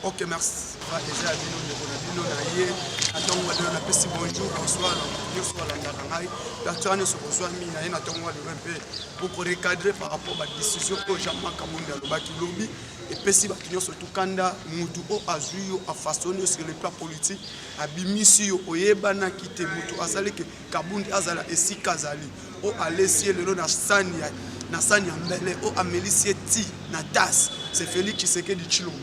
Ok, merci. Eza bino ndeko na bino na ye na ntongo wa lelo napesi bonjour bonsoir na moto nyonso alandaka ngai baktera nyonso bozwami na ye na ntongo wa lelo mpe bokorecadre par rapport badécision oyo jean marc kamundi alobaki lobi epesi bato nyonso tukanda motu oyo azwi yo afasoni yo sur le plan politique abimisi yo oyebanaki te motu azali ke Kabundi azala esika azali o oh, alesi ye lelo na sani ya na sani ya mbele o oh, amelisi ye ti na tas se Felix Tshisekedi Tshilombo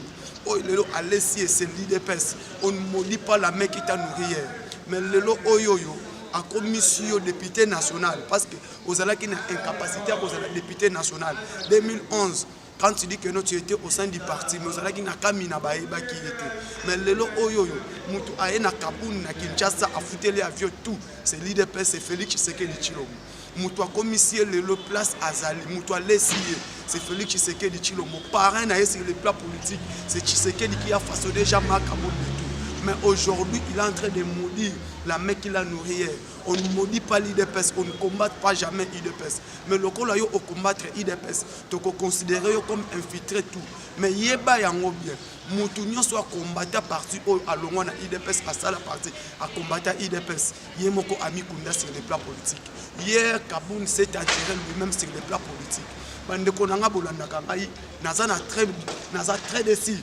o oh, lelo alesi ye se l'UDPS on ne maudit pas la main qui t'a nourri hier mais lelo oyo oyo akomisi yo député national parce que ozalaki na incapacité ya kozala député national 2011 quand tu dis que non tu étais au sein du parti mais ozalaki na kamina bayebaki ye te mais lelo oyo oyo motu aye na kabuni na kinshasa afuteli avion tout c'est l'idps et félix tshisekedi tshilombo motu akomisi ye lelo place azali motu alesi ye c'est félix tshisekedi tshilombo parrain na ye sur le plan politique c'est tshisekedi qui a façonné jean marc abondo mais aujourd'hui il est en train de maudire la main qui l'a nourri on ne maudit pas l'IDPS, on ne combat pas jamais IDPS. Mais le col au combattre IDPS, tu peux considérer comme infiltré tout. Mais il est bien. moto nyonso akombata parti oyo alongwa na idps asala parti akombata idps ye moko amikunda sur le plan politique hier kabun s'est attiré lui-même sur le plan politique bandeko na ngai bolandaka ngai naza na très naza très desi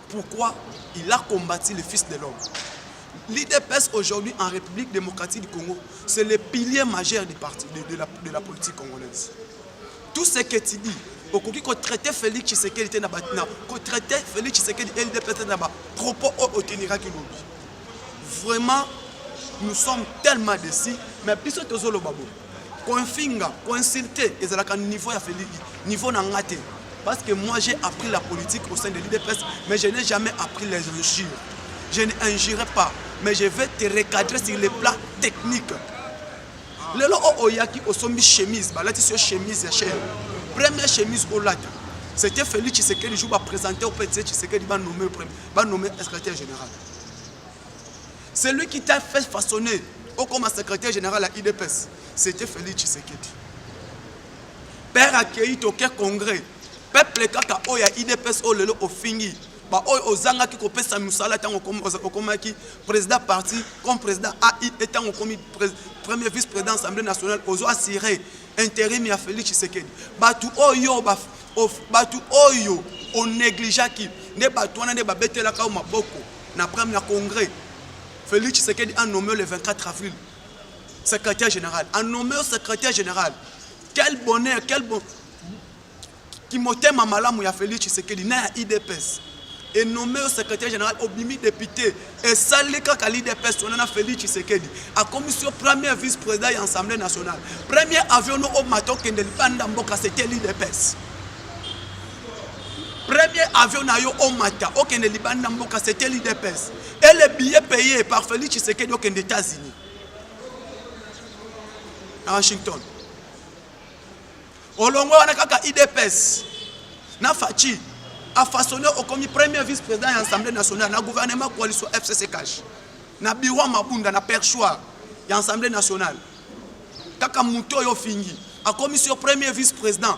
Pourquoi il a combattu le fils de l'homme L'IDPS aujourd'hui en République démocratique du Congo, c'est le pilier majeur du parti, de, de, la, de la politique congolaise. Tout ce que tu dis, okoki kotraite félix tshisekedi te na kotraite félix tshisekedi ldp te na bapropos oyo oteniraki lobi vraiment nous sommes tellement décis mais biso tozoloba boye kofinga koinsulte ezalaka niveau ya feli niveau na nga te parce que moi j'ai appris la politique au sein de l'idps mais je n'ai jamais appris les injures je ne injurerai pas mais je vais te recadrer sur les plats techniques lelo oyo oh, oyaki oh, osombi chemise balatisi yo chemise ya chere première chemise olata c'était feli tshisekedi jour baprésente ope tse tshisekedi banome secrétaire général Celui qui t'a fait façonner au comme secrétaire général à IDPS, c'était Félix Tshisekedi. Père accueilli toke congrès, peuple kaka oyo ya IDPS oyo lelo ofingi baoyo ozangaki kopesa mosala ntango okomaki président parti comme président ai e ntango okomi premier vice président assemblée nationale ozo assire interim ya félix tshisekedi bato oyo bato oyo onegligeaki nde bato wana nde babetelaka yo maboko na prime ya congrès Félix Tshisekedi a nommé le 24 avril secrétaire général a nommé au secrétaire général quel bonheur quel bon kimotema malamu ya Félix Tshisekedi na ya IDPS et nommé au secrétaire général obimi député esali kaka l'IDPS wana na Félix Tshisekedi akomisi yo premier vice président ya assemblée nationale premier avion no omata okende libanda mboka c'était l'IDPS premier avion na yo omata okende libani na mboka c'était l'idps et le billet payé par félix tshisekedi okende états-unis na washington olongo wana kaka idps na faci afasone okomi premier vice président ya assemblée nationale na gouvernement coalition fcc cash na bureau mabunda na perchoir ya assemblée nationale kaka moto oyo ofingi akomisi yo premier vice président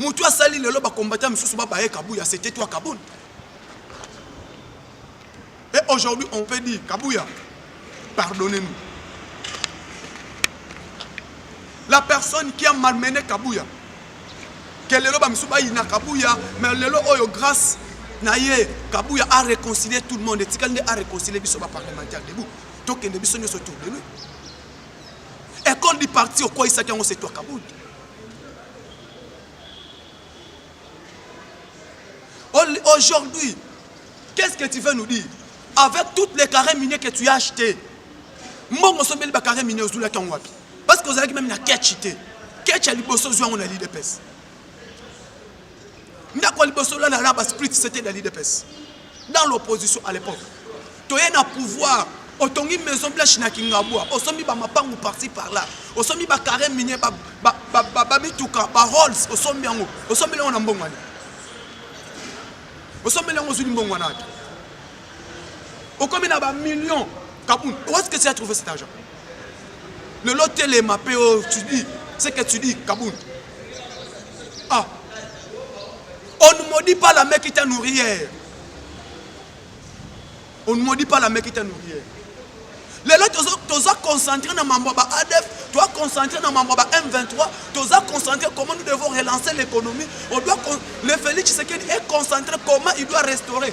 mutu asali lelo ba combattant misusu ba baye kabuya c'était toi kabund et aujourd'hui on peut dire kabuya pardonnez nous la personne qui a malmené kabuya que lelo ba misusu bayina kabuya mais lelo oyo grâce na ye kabuya a réconcilier tout le monde etikali nde a réconcilier biso ba parlementaire debout tokende biso nyonso tour de nuit Ecole du parti okweisaki yango c'est toi Kabund. Aujourd'hui, qu'est-ce que tu veux nous dire Avec toutes les carrés miniers que tu as achetés, mbongo sombeli ba carrés miniers ozulaki yango wapi Parce que ozalaki même na ketch te. Ketch ya liboso ozwi yango na l'IDPS. ndako ya liboso la la ba split c'était dans l'IDPS dans l'opposition à l'époque toye na pouvoir otongi maison blanche na kingabwa osombi bamapangu parti par là osombi bacarre minier bamituka barolls osombi yango osombeli yango na mbongwani osombeli yango ozwi limbongwana ata okomi na bamillion kabun où est-ce que tu as trouvé cet argent lelo telema mpe tu dis ce que tu dis kabun Ah. On ne maudit pas la mère qui t'a nourri hier. On ne maudit pas la mère qui t'a nourri hier. lelo toza concentre na mambo ya ba adf toza concentre na mambo ya ba m23 toza concentre comment nous devons relancer l'économie on doit le félix tshisekedi est concentré comment il doit restaurer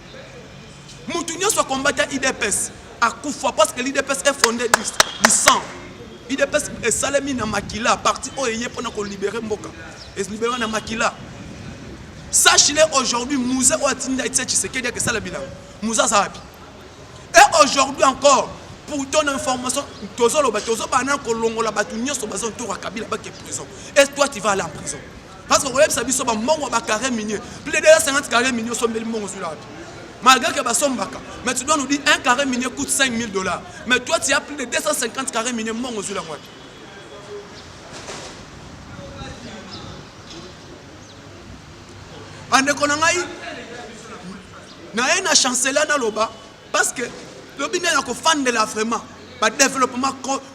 mutu nyonso akombata idps akufa parce que l'idps est fondé du, du sang idps esalemi na makila parti oyo eye mpona kolibere mboka elibere na makila sachile aujourd'hui muze oyo atinda etie tshisekedi ake esala bilanga muze aza wapi et aujourd'hui encore pour ton information tozoloba tozobana kolongola bato nyonso baza ntoka kabila bake prison est toi tu vas aller en prison parce que koyebisa biso bambongo ya bacarré minier plus de 250 carré minier osombeli mbongo ozwi wapi malgré que basombaka mais tu dois nous dire un carré minier coûte 5000 dollars mais toi tu as plus de 250 carré minier mbongo ozwi yango wapi bandeko na ngai naye na chancela naloba parce que lobi nde na kofandela vraiment badéveloppement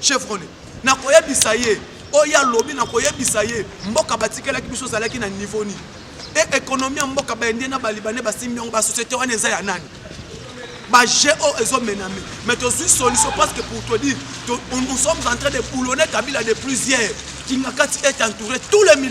Chevrolet nakoyebisa ye oyo alobi nakoyebisa ye mboka batikelaki biso ozalaki na niveau nini e ekonomi ya mboka baindien na balibane basimbi yango basociété wana eza ya nani baje oyo oh, ezomename mais tozwi solution parce que pour te dire nous sommes en train de boulonner kabila de plusieurs kingakati est entouré tous les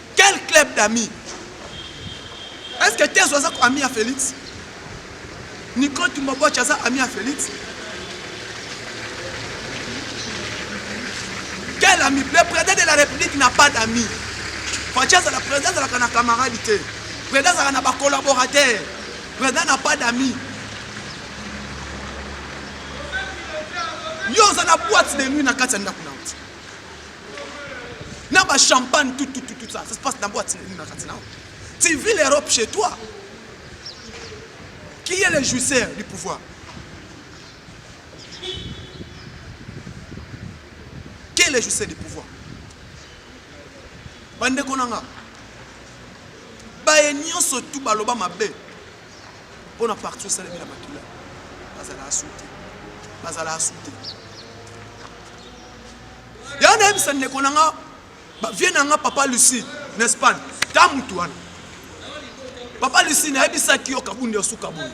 Quel club d'amis Est-ce que Tezo aza ami ya Felix Nico Tumbaboche aza ami ya Felix Quel ami Le président de la République n'a pas d'amis. Fatshi azala président azalaka na camarade te. Président azalaka na ba collaborateurs. Président n'a pas d'amis. Yo oza na boîte de nuit na kati ya ndako na na ba champagne tout tout tout ça ça se passe na boîte nini na kati nao tu vis l'Europe chez toi qui est le jouisseur du pouvoir qui est le jouisseur du pouvoir bandeko na nga baye nyonso tu baloba mabe mpo na parti osalemi na makila bazala asute bazala asute yango nayebisa ndeko na nga bavie na nga papa lucie na espagne ta mutu wana papa lucie nayebisaki yo kabundi osuka boye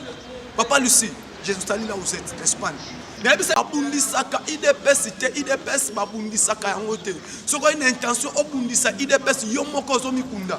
papa lucie jesali la vous êtes espagne nayebisa babundisaka idps te idps babundisaka yango te soki oyi na intention obundisa idps yo moko ozomikunda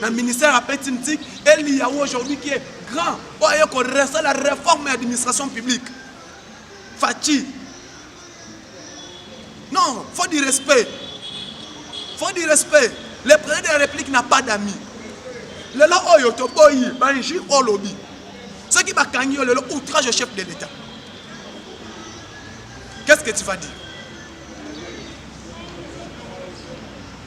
na ministère ya petinitique eliya aujourd'hui qui est grand oyo aye koresa la réforme ya administration publique faci non faut du respect faut du respect le président de la république n'a pas d'amis lelo oyo toboyi banji olobi soki bakangi yo lelo outrage au chef de l'état qu'est ce que tu vas dire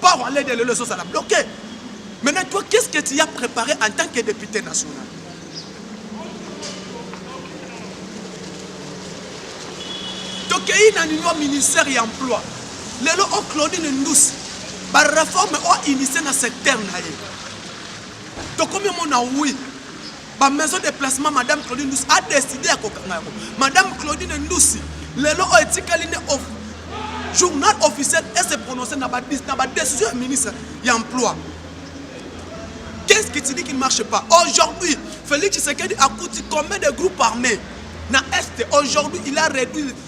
Port allait de lelo ezozala bloqué. Maintenant toi qu'est-ce que tu as préparé en tant que député national? tokei na nino ministère ya emploi lelo o claudine ndusi bareforme o initie na secteur na ye tokomi omona wi ba maison de placement madame Claudine Ndusi a décidé ya kokanga yango madame Claudine Ndusi lelo oyo etikali nde journal officiel e se prononcer na ba na ba décision ya ministre ya emploi qu'est-ce qui te dit qu'il ne marche pas aujourd'hui Félix Tshisekedi a coûté combien de groupes armés na est aujourd'hui il a réduit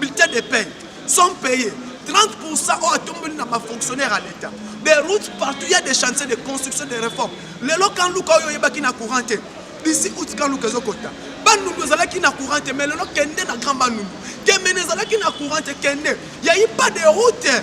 bulletin de paie sont payés 30% oyo atombeli na bafonctionnaire ya leta des routes partout ya des chantiers de construction de réforme lelo kanluka oyo oyebaki na courant te bisi uti kanluka ezokota bandundu ezalaki na courant te mais lelo kende na grand bandundu kemene ezalaki na courant te kende yayi pas de route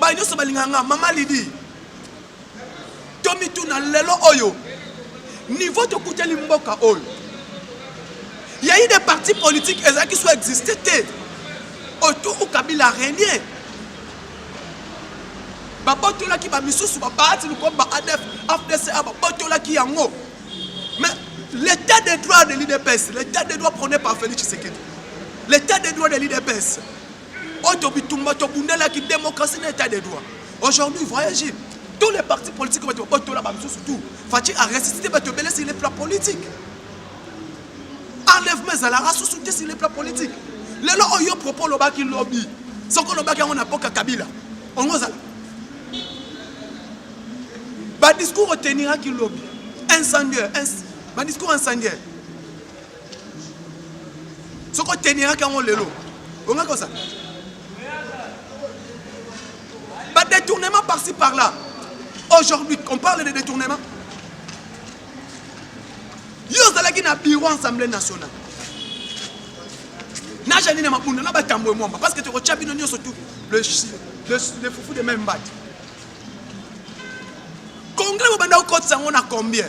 baye nyonso balingaka nga mama lidi tomituna lelo oyo niveau tokuteli mboka oyo ya ide parti politique ezalaki so existe te autour kabila renie babotolaki bamisusu babaati lokola ba adf afdca babotolaki yango mais l'état de droit de l'idps l'état de droit prôné par félix tshisekedi l'état de droit de l'idps oyo bitumba tobundelaki démocratie na état de droit aujourd'hui voyage tous les partis politiques bato babotola bamosusu tout faci aresisite bato ebele sur le plan politique enlèvement ezalaka susu te sur le plan politique lelo oyo propos olobaki lobi soki olobaki yango na boka kabila ongo ozala badiscours oteniraki lobi incendiaire badiscours incendiaire soki oteniraki yango lelo ongaki ozala badetournement parci par là aujourd'hui on parle de détournement yo ozalaki na bureau assemblée nationale na janine mabunda na batambo emwamba parce que tokotya bino nyonso tu le, le, le fufu de même mbati congrès bobanda kokotisa yango na combien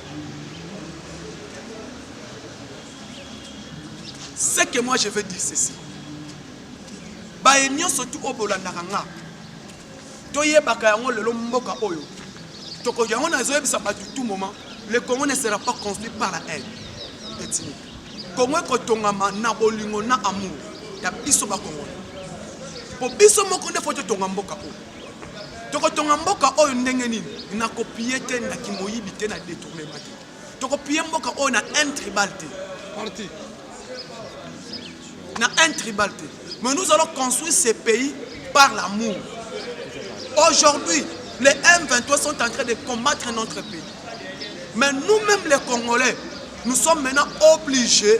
ce que moi je veux dire ceci baye nyonso tu oyo bolandaka nga toyebaka yango lelo mboka oyo tokoki yango nazoyebisa bato tout moment le congo ne sera pas construit par la haine etini kongo ekotongama na bolingo na amour ya biso bakongona mpo biso moko nde fo totonga mboka oyo tokotonga mboka oyo ndenge nini na kopie te na kimoyibi te na detournement te tokopie mboka oyo na un tribal te parti na un tribal te mais nous allons construire ce pays par l'amour aujourd'hui les M23 sont en train de combattre notre pays mais nous-mêmes les Congolais nous sommes maintenant obligés